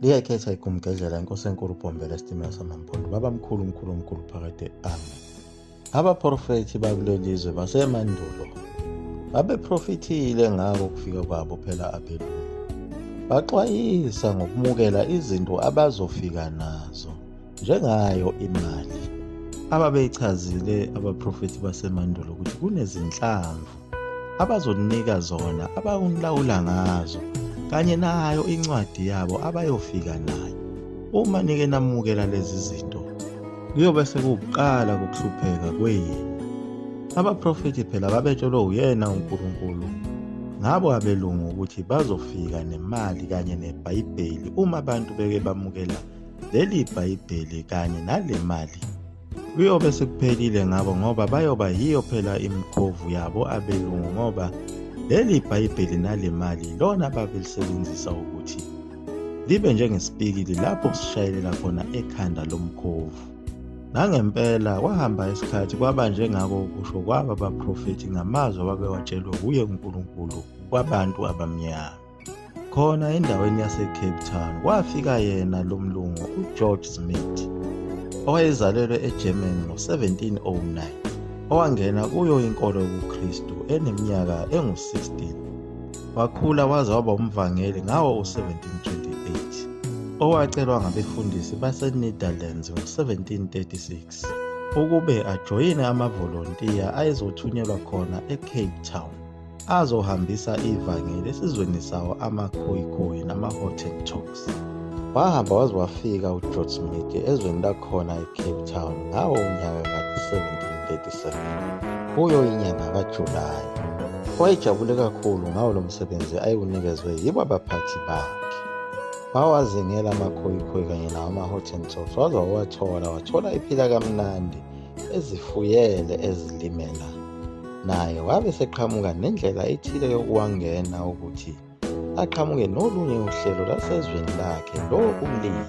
liyayikhetha igumgedlela inkosi enkulu bhombela esitimela samampondo baba mkhulu mkhulu mkhulu phakade amen abaprofethi bakulelizwe basemandulo babeprofithile ngako ukufika kwabo phela abelungu baxwayisa ngokumukela izinto abazofika nazo njengayo imali ababeyichazile abaprofethi basemandulo ukuthi kunezinhlamvu abazoninika zona abakunilawula ngazo kanye nayo incwadi yabo abayofika nayo uma nike namukela lezi zinto kuyobe sekuwukuqala kokuhlupheka kwenu abaprofethi phela babetshelwe uyena unkulunkulu ngabo abelungu ukuthi bazofika nemali kanye nebhayibheli uma abantu beke bamukela leli bhayibheli kanye nale mali Kuyobe sekuphelile ngabo ngoba bayoba yiyo phela imikhovu yabo abelungu ngoba leli Bhayibheli nale mali lona babelisebenzisa ukuthi libe njengesipikili lapho kusishayelela khona ekhanda lomkhovu. Nangempela kwahamba isikhathi kwaba njengako kusho kwaba baprofethi ngamazwi ababewatshelwe wuye uNkulunkulu kwabantu abamnyama. Khona endaweni yaseCape Town kwafika yena lo mlungu uGeorge Smith owayezalelwe eGermany ngo-1709 owangena kuyo inkolo yobuKristu eneminyaka engu-16 wakhula waze waba umvangeli ngawo u-1728 owacelwa ngabefundisi baseNetherlands ngo-1736 ukube ajoyine amavolontiya ayezothunyelwa khona eCape Town. azohambisa ivangeli esizweni sawo amakhoyikhoyi nama-hottentoks wahamba waze wafika ugeorge smith ezweni lakhona ecape town ngawo unyaka ka-1737 kuyo inyanga kajulayi wayejabule kakhulu ngawo lo msebenzi ayewunikezwe yibo abaphathi bakhe wawazingela amakhoyikhoyi kanye nawo ama-hottentoks waze wawathola wathola iphila kamnandi ezifuyele ezilimela naye wabe seqhamuka nendlela ethile yokuwangena ukuthi aqhamuke nolunye uhlelo lwasezweni lakhe lokulima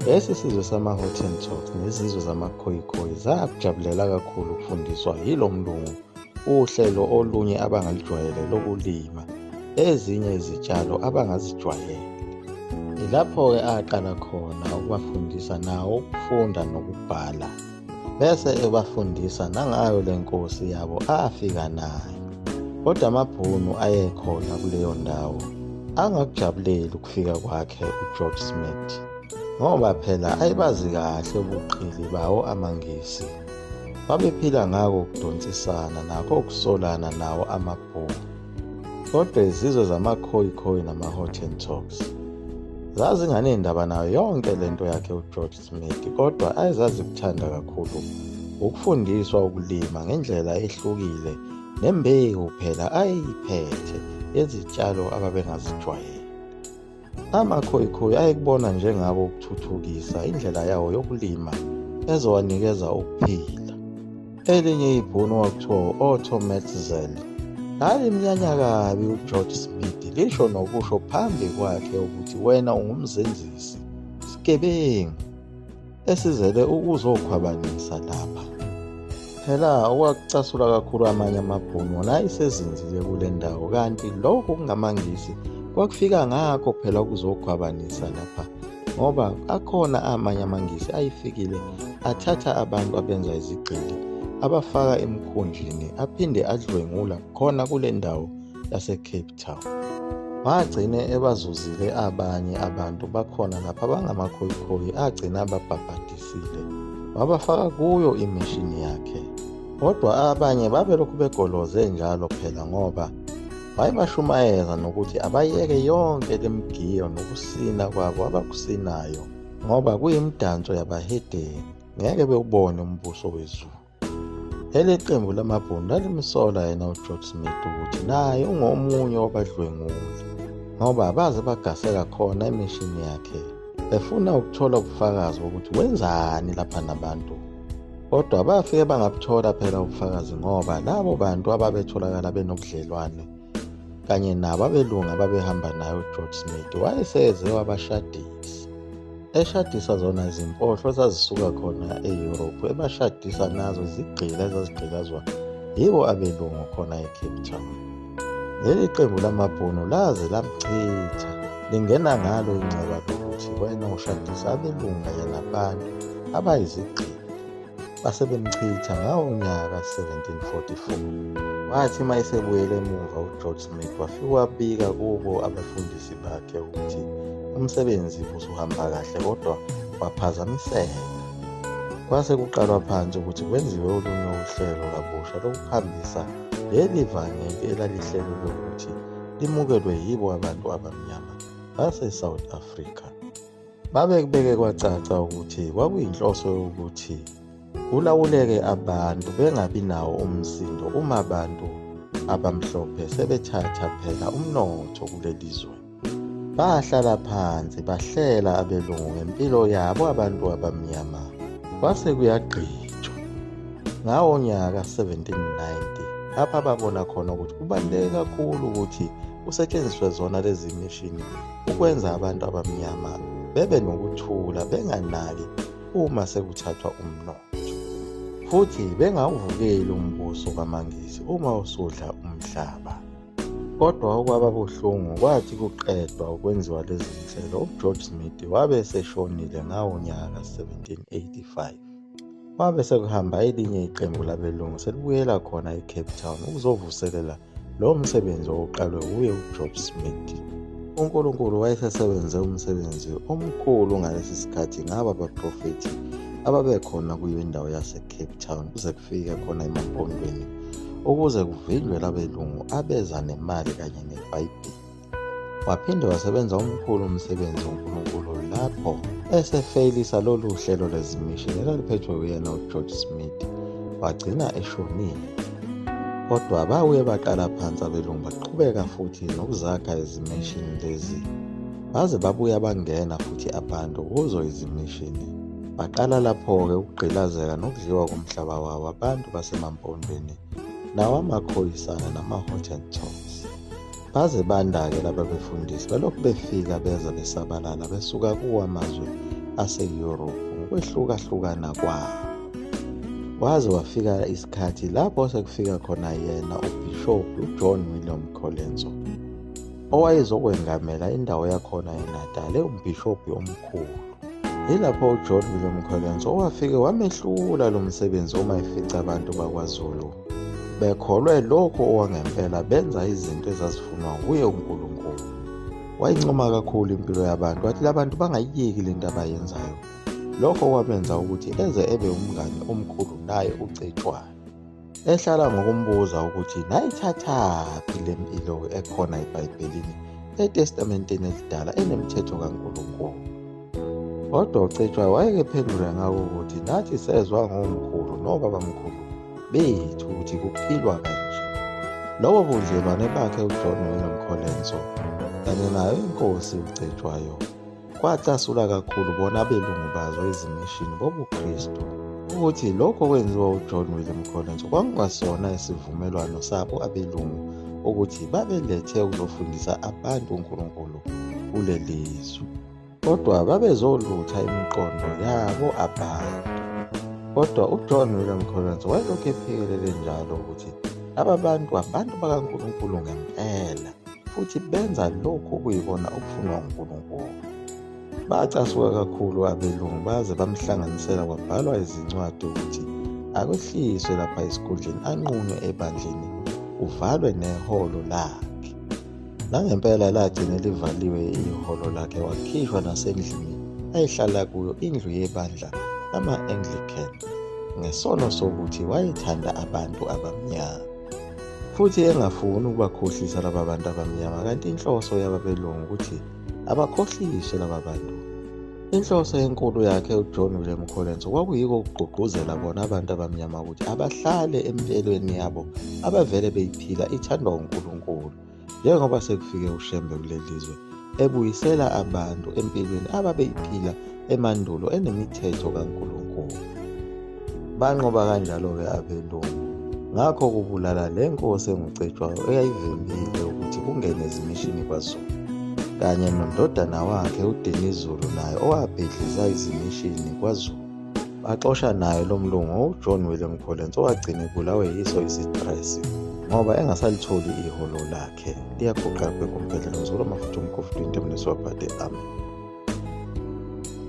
lesi sizwe sama-hottentot nezizwe zamakhoyikhoyi zakujabulela kakhulu ukufundiswa yilo mlungu Uhlelo olunye abangalujwayele lokulima ezinye izitshalo abangazijwayele. Yilapho-ke aqala khona ukubafundisa nawo ukufunda nokubhala, bese ebafundisa nangayo le nkosi yabo afika nayo. Kodwa amaBhunu ayekhona kuleyo ndawo angakujabuleli ukufika kwakhe uGeorge Smith ngoba phela ayebazi kahle ubuqili bawo amaNgisi. Babephila ngako ukudonsisana nakho ukusolana nawo amabhungu. Kodwa izizwe zamakhoyikhoyi nama-hottentots zazinganendaba nayo yonke le nto yakhe uGeorge Smith kodwa ayezazikuthanda kakhulu ukufundiswa ukulima ngendlela ehlukile nembewu phela ayeyiphethe yezitshalo ababengazijwayele. Amakhoyikhoyi ayekubona njengako ukuthuthukisa indlela yawo yokulima ezowanikeza ukuphila. Elinye ibhunu kwakuthiwa u-Otto Metzel lalimnyanya kabi uGeorge Smith lisho nokusho phambi kwakhe ukuthi wena ungumzenzisi, sigebengu. esizele ukuzokhwabanisa lapha phela okwakucasula kakhulu amanye amabhunu wona ayisezinzile kule ndawo kanti lokho kungamangisi kwakufika ngakho phela ukuzokhwabanisa lapha ngoba akhona amanye amangisi ayifikile athatha abantu abenza izigxili abafaka emkhunjini aphinde adlwengula khona kule ndawo laseCape Town. Wagcine ebazuzile abanye abantu bakhona lapha bangamakhoyikhoyi agcina ababhabhadisile wabafaka kuyo imishini yakhe. Kodwa abanye babelokhu begoloze njalo phela ngoba wayebashumayeza nokuthi abayeke yonke lemigiyo nokusina kwabo abakusinayo ngoba kuyimidanso yabahedeni ngeke bewubone umbuso wezulu. Leli qembu lamabhunu lalimsola yena uGeorge Smith ukuthi naye ungomunye wabadlwenguli ngoba baze bagaseka khona emishini yakhe befuna ukuthola ubufakazi bokuthi wenzani lapha nabantu kodwa bafike bangabuthola phela ubufakazi ngoba labo bantu ababetholakala benobudlelwane kanye nabo abelungu ababehamba naye ugeorge smith wayeseze wabashadisa eshadisa zona zimpohlo zazisuka khona eyurophu ebashadisa nazo izigqila ezazigqilazwa yibo abelungu khona ecape town leli qembu lamabhunu laze lamchitha lingena ngalo inxeba lokuthi wena ushadisa abelungu kanye nabantu abayizigqila base bemchitha ngawo unyaka ka-1744 wathi uma esebuyele emuva ugeorge smith wafike wabika kubo abefundisi bakhe ukuthi umsebenzi usuhamba kahle kodwa waphazamiseka kwase kuqalwa phansi ukuthi kwenziwe olunye uhlelo kabusha lokuhambisa leli vangeli elalihlelwe lokuthi limukelwe yibo abantu abamnyama base-south africa Babekubeke kwacaca ukuthi kwakuyinhloso yokuthi kulawuleke abantu bengabi nawo umsindo uma abantu abamhlophe sebethatha phela umnotho kuleli zwe. Bahlala phansi bahlela abelungu ngempilo yabo abantu abamnyama kwase kuyagqitshwa. Ngawo nyaka 1790 lapha babona khona ukuthi kubaluleke kakhulu ukuthi kusetshenziswe zona lezi mishini ukwenza abantu abamnyama bebe nokuthula benganaki uma sekuthathwa umnotho futhi bengawuvukeli umbuso kamangisi uma usudla umhlaba kodwa okwaba buhlungu kwathi kuqedwa ukwenziwa lezi zinhlelo ugeorge smith wabe eseshonile ngawo nyaka 1785 Kwabe sekuhamba elinye iqembu labelungu selibuyela khona eCape Town ukuzovuselela lowo msebenzi owuqalwe wuye uJob Smith. UNkulunkulu wayesesebenze umsebenzi omkhulu ngalesi sikhathi ngaba baprofethi ababekhona kuyo indawo yaseCape Town kuze kufike khona emampondweni ukuze kuvinjwe labelungu abeza nemali kanye nebhayibheli. Waphinde wasebenza umkhulu umsebenzi woNkulunkulu lapho esefeyilisa lolu hlelo lwezimishini elaliphethwe uyena uGeorge Smith wagcina eshonile. Kodwa babuye baqala phansi abelungu baqhubeka futhi nokuzakha izimishini lezi baze babuya bangena futhi abantu kuzo izimishini. Baqala lapho-ke ukugqilazeka nokudliwa komhlaba wabo abantu basemampondweni nawamakhoyisana namaHottentots. Baze bandake laba befundisi balokhu befika beza besabalala besuka kuwo amazwe ase-Europe ngokwehlukahlukana kwawo. Waze wafika isikhathi lapho sekufika khona yena uBhishobhi uJohn William Colenso owayezokwengamela indawo yakhona eNatal ewumbhishobhi omkhulu. Yilapho uJohn William Colenso owafike wamehlula lo msebenzi uma efica abantu bakwaZulu bekholwe lokho owangempela benza izinto ezazifunwa nguye uNkulunkulu wayincoma kakhulu impilo yabantu wathi labantu bangayiyeki lento abayenzayo lokho kwamenza ukuthi eze ebe umngane omkhulu naye uCetshwayo ehlala ngokumbuza ukuthi nayithathaphi le mpilo ekhona ebhayibhelini etestamenteni elidala enemithetho kaNkulunkulu Kodwa uCetshwayo wayekephendula ngako ukuthi nathi sezwa ngomkhulu nobabamkhulu bethu ukuthi kuphilwa kanje. Lobo budlelwane bakhe uJohn noNomkholenso kanye nayo inkosi uCetshwayo kwacasula kakhulu bona abelungu bazo ezimishini bobuKristu ukuthi lokho kwenziwa uJohn William Collins kwakungasona isivumelwano sabo abelungu ukuthi babelethe ukuzofundisa abantu uNkulunkulu kuleli zwe. kodwa babezolutha imiqondo yabo abantu kodwa ujohn william collins wayelokhu ephikelele njalo ukuthi laba bantu abantu bakankulunkulu ngempela futhi benza lokhu okuyikona okufunwa unkulunkulu bacasuka kakhulu abelungu baze bamhlanganisela kwabhalwa izincwadi ukuthi akwehliswe lapha esikhundleni anqunywe ebandleni kuvalwe neholo lakhe Nangempela lagcine livaliwe ihholo lakhe wakhishwa nasendlini ayihlala kuyo indlu yebandla lama-Anglican ngesono sokuthi wayethanda abantu abamnyama futhi engafuni ukubakhohlisa laba bantu abamnyama kanti inhloso yababelungu ukuthi abakhohliswe laba bantu Inhloso enkulu yakhe uJohn William Collins kwakuyiko ukugqugquzela bona abantu abamnyama ukuthi abahlale empilweni yabo abavele beyiphila ithandwa uNkulunkulu njengoba sekufike uShembe kuleli zwe ebuyisela abantu empilweni ababeyiphila emandulo enemithetho kaNkulunkulu. Banqoba kanjalo-ke abelungu. Ngakho kubulala le nkosi enguCetshwayo eyayivimbile ukuthi kungene izimishini kwaZulu kanye nondodana wakhe uDinizulu naye owabhidliza izimishini kwaZulu. Baxosha naye lo mlungu uJohn William Collins owagcina ebulawe yiso isitresi ngoba engasalitholi iholo lakhe liyaguqa bheka umphelela ngizolo mafutha umkhofu 20 mnesiwabhade amen